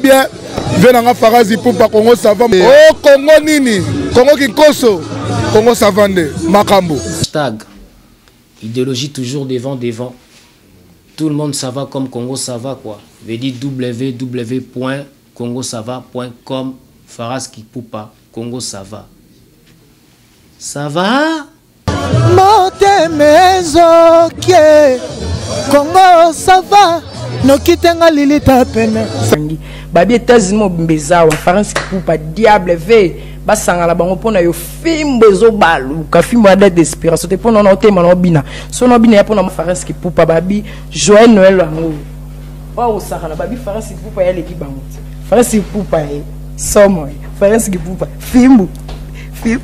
bien vie na nga farazi pupa kongo sava o oh, kongo nini kongo kinkoso kongo sava nde makambo stag idéologie toujours devant devant tout le monde sava comme congo sava quoi veut dire www point congo sava point com faras kipupa congo sava sava motema ezokie kongo sava noki te nga lilita pene sangi babi etats-unis mobimba eza wa france kupa diable ve basangana bango mpo na yo fimbo ezobaluka fimbo ya date d'expiration te mpo na ona otema na obina so na obina ya mpo na france kipupa babi joyel noel yango oyo osakana babi france kipupa yaleki bango te france kipupa ye somo ye france kipupa fimbo fimbo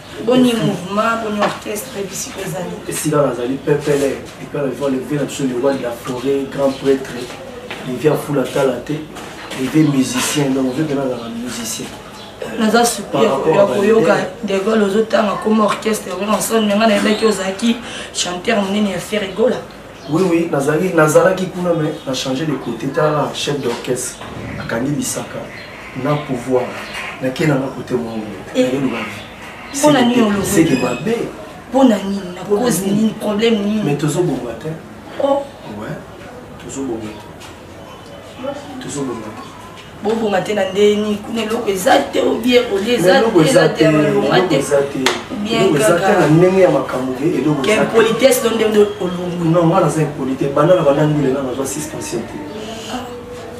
boni mouvement boni orchestre bisika ezali esika nazali pepele epa bavia levi na biso lewa de la forêt grand prêtre levi afula tala te levi musicien donc ozo mpena azalaka musicien naza suki ya koyoka degol ozotanga koma orchestre wrnson me ngai nayebaki ozalaki chanteur monene ya ferre gola Oui, oui, nazali, nazalaki kuna, mais na changer de côté. Tala, chef d'orchestre, akangi bisaka, na pouvoir, na kena na côté mon Et eh, Pour la nuit, on le C'est que ma bé. Pour la nuit, na cause ni problème ni. Mais tozo bonga te. Oh. Ouais, tozo bonga te. tozobonga bobonga te na ndenge nini kuna eloko eza te obie kolia ezaeloko eza te bien kaka na ndenge ya makambo te eloko impolitesse do ndenge olongwi non nga naza impolite banda na banda ndule nga nazwa suspension te ah.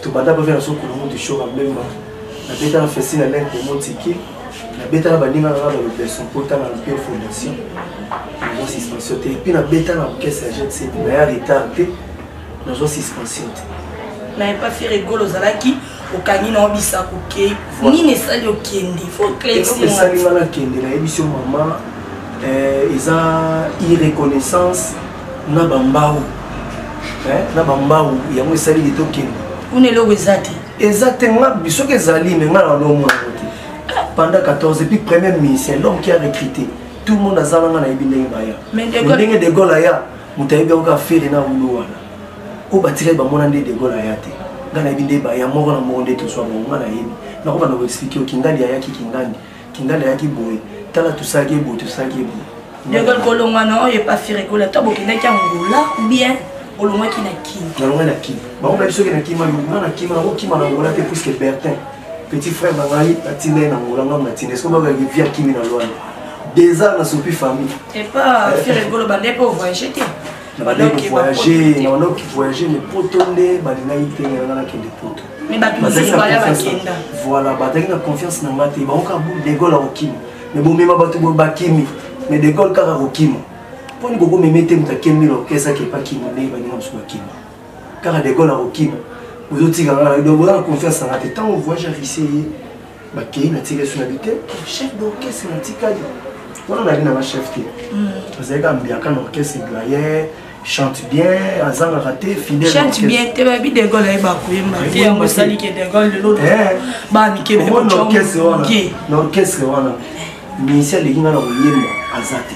tobanda bavia na sokolongo du show abemba nabetana festi na lente motiki nabetana baninga nanga balobeso mpo tanga na mpe fondation yango suspension te epuis nabetana orchestre ya jet set naya retard te nazwa suspension te na epa fere gol ozalaki okangi na obisa kokei nini esali okende fosali nga nakende nayebisi yo mama eh, eza irreconnaissance na bambau eh, na bambau yango esali ye tokende kuna eloko eza te eza te nga bisoki ezali me nga na lomwa yango te pendant 14 epuis premier ministère l'homme qui a recruté tout le monde aza nanga nayebi ndenge baya ndenge de gol aya moto ayebi yango kaka fere na wulo wana oyo batikaki bamona nde degol aya te ngai nayebi nde baya moko na moko nde tozwa bango ngai nayebi nakobanda koexplike yo kingandi ayaki kingandi kingandi ayaki boye tala tosalaki ye boye tosalaki ye boye degol kolongwana oyo epa fere kola to bokendaki angola bien olongwaki na kini nalongwaki na kini bango bayebi soki na kima yo nga na kima nakokima na angola te puiske bertin petit frère na ngai natina ye na ngola ngai natina eske babaki vi akimi na lwana deux ans nasopi famille epa firegolo bande mpe ovoyage te nabandoki voyage nabandoki voyage mais poto nde balingaki te nanga nakende poto voilà bazalaki na confiance na ngai te bango kaka bu degole akokima mais bomema bato boye bakimi mais degole kaka akokima mpo ni kokomeme te moto akemi na orkestre akepakima nde baninga mosusu bakima kaka de gaulle akokima bozotika nga nayo donc boza na confiance na nga te ntango voyage ya ruse ye bakei natika esu na bi te chef d'orchestre natikali wana nabi na nga chef te azali kaka mbiaka na orchestre doyen chante bien azangaka te fidèlechante bien te bayebi de gaulle ayeba koyemba te yango esali ke de gaulle lelo banikebnaorchestre wana musicien aleki nga na koyemba aza te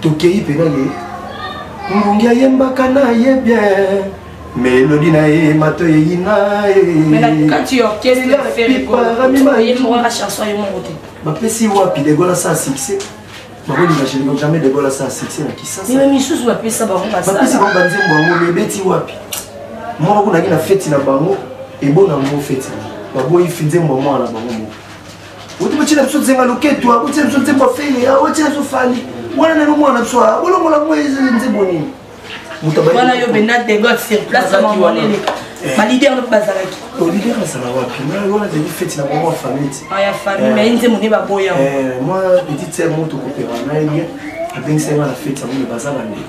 tokeyi mpe na ye mbongi ayembaka na ye bien melodi na ye mato eyina bapesi wapi degola sa succès bakolinga jelingo jamais degola sa succès na kisasabapesi bango banzembo yango mebeti wapi moko kunaki na feti na bango ebona yango feti baboyi nzembo ya mwana na bango moko oti botyela biso nzenga loketu abotyela biso nzembo afele abotyela biso fali wana nano mwana na biso bolongola ngo nzembo nini wana yo benda degot sur place mamonele balider mpe bazalaki lider azala wapi wana ezali feti na bango ya famille ti ya famille mai nzembo nde baboya mwa petite sere moto kopema na ye bien abengisaki nga na feti yango me baza bandeko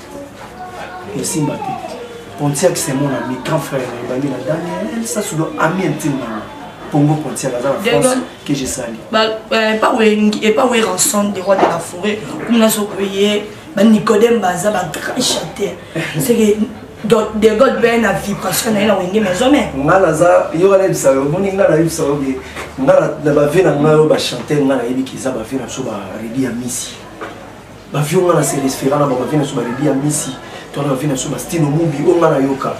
esimba te pontiac c'est mon ami grand frère na ebandi na daniel sasudo ami intime na nga pongo pontiac aza na france que je sali epa we ranson de roi de la forêt kuna sokoye banicodème baza bagrand chanteur seke donc de god mpe na vibration na ye na wenge maison me nga naza yoka nayebisa yo omoni nga nayebisa yo ke nga na bave na ngai oyo bachante nga nayebi ke eza bave na biso baredi ya misi ba vieux nga na se resfera na ba ba vieux na so ba bibi ya misi to na ba vieux na so ba stino mubi o nga na yoka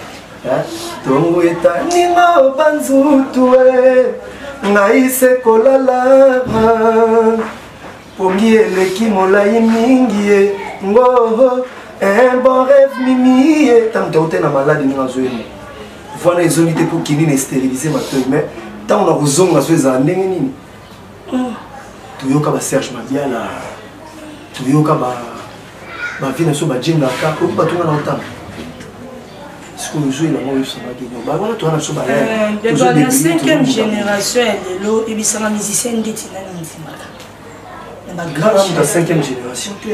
hein tongo eta ninga banzutu ngai se kolala pongi eleki molai mingi ye ngoho un bon rêve mimi ye ntango taute na maladi ndenge azoyema voana ezongi te mpo kini na esteririse matoi mais ntango na kozonga zo ezala ndenge nini Hmm. toyoka ba serge mabiala toyoka bavie na biso bajengaka oyoki bato nga na otanga sikoyo ozwi elango oyosangaki no bawana towana biso balana cinquième génération ya lelo ebisanga musicien ndeti nani ondimaka na bagrand moto ya cinquième génération te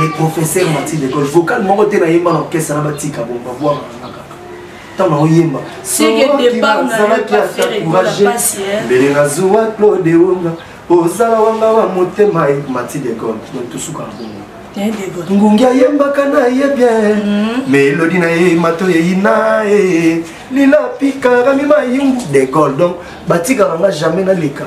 le professeur martin lecole vocal moko te nayemba na orchestre na batika bo babwaka nanga kaka ntango naoyemba sookibazalaki ata courage mbele nazuwa claude wonga ozala wanga wa motema e martin lecole donc tosuka na bongo ngungi ayembaka na ye bien hmm. melodi na ye mato eyina e lila pikarami mayungu de gol donc batikaka nga jamais naleka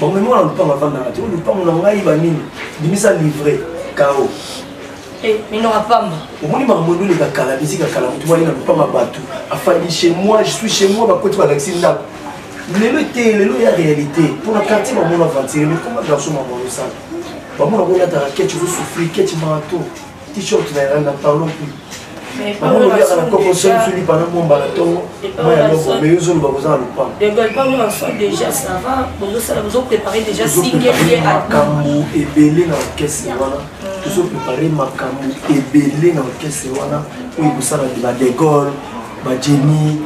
bamemi wana lupango afandaka te lupango na ngai banini bimisa livre kao eh, minora pamba omoni makambo eloleka kala bisika kala motu bali na lupango ya bato afandi chez moi je suis chez moi bakoti balakisi ndako lelo te lelo ya réalité mpona quartier bamona ventire mais koma garçon mamonosala bamona koyataka ketch ozosouffrir ketch marato t-shirt na yanga na parlon plus bango lobiaka na koko soli fili pana momba na ntongo mai ya loko mai ozoloba boza na lopango makambo ebele na orkestre wana mm. tozoprepare makambo ebele na orkestre wana oyo ekosala ba de gaulle ba jenny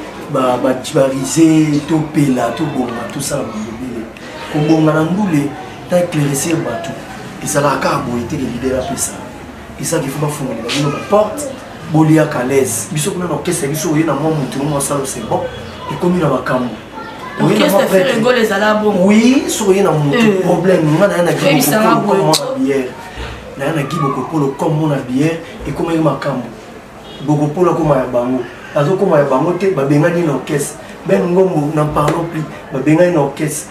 barise topela tobonga tosala makambo ebele kobonga na ndule na eclaircir bato ezalaka kaka boye te leader apesa ezaki fo bafungolela bino baporte boliaka laise biso kuna na orkestre ya biso oye na mwa motu mwa salo c'est bon ekomi na makambo oui soki oye na motu euh. problème nga naya na biere naya na gibo kokolo comme mona biere ekomaki makambo bokopolo akoma ya bango azokoma ya bango te babengani na orkestre ben ngombo na parlon plus babengani na orkestre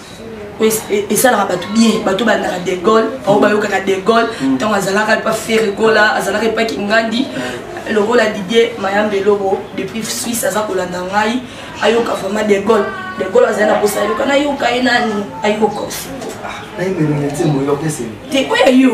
esalaka bato bien bato bandaka de gaulle bango bayokaka de gaulle ntango azalaka epa fere gola azalaka epa kingandi lokola didie mayambe elobo depuis suisse aza kolanda ngai ayoka vraiment de gaulle de gaulle azali na posa ayoka nayoka ye nani ayoka osiko te oyo yo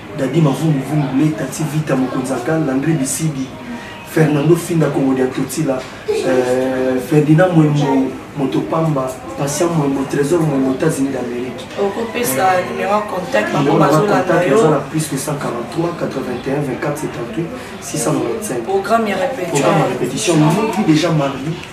Dadi mavungu vungu le tati vita mokonzi akal Landry Bisibi Fernando Finda Kongo dia Totila euh, Ferdinand Mwembo moto pamba Patient Mwembo Trésor Mwembo États-Unis d'Amérique. Okopesa euh, numéro ya contact bango bazolanda yo. Eza plus que 143 81 24 78 695. Programme ya répétition. Programme ya répétition. Nous qui déjà marié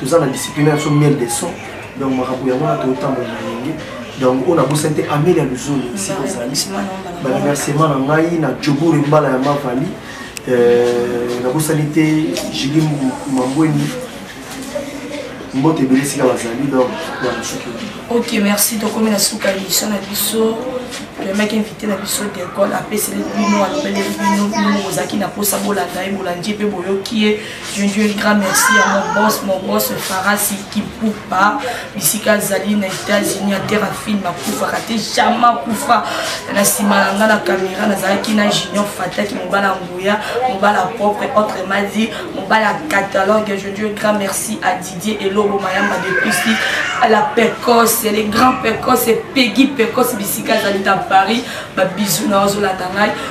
toza na discipline ya biso miel de son donc makambo yango wana totambola na ndenge donc oyo nabosani te amelia luzoni esika ozali baremerciement na ngai na jobure mbala ya mavali euh, nabosani te jili mambweni mbote ebele esika bazali donc ya mosuki ok merci tokomi na suka ya biso na biso toyembaki invité na biso decole apeseli bino alobeleli bino bino bozalaki na mposa bolanda ye bolandi ye mpe boyoki ye Je lui dis un grand merci à mon boss, mon boss Farasi Kipupa, bisika zali na États-Unis à terre film akufa kate jamais akufa na sima na nga na caméra nazalaki na Junior Fataki mobala nguya mobala propre autre m'a dit mobala catalogue je dis un grand merci à Didier Elobo Mayamba de Christi à la Pecos les grands Pecos et Peggy Pecos bisika zali dans Paris ba bisous na ozolanda ngai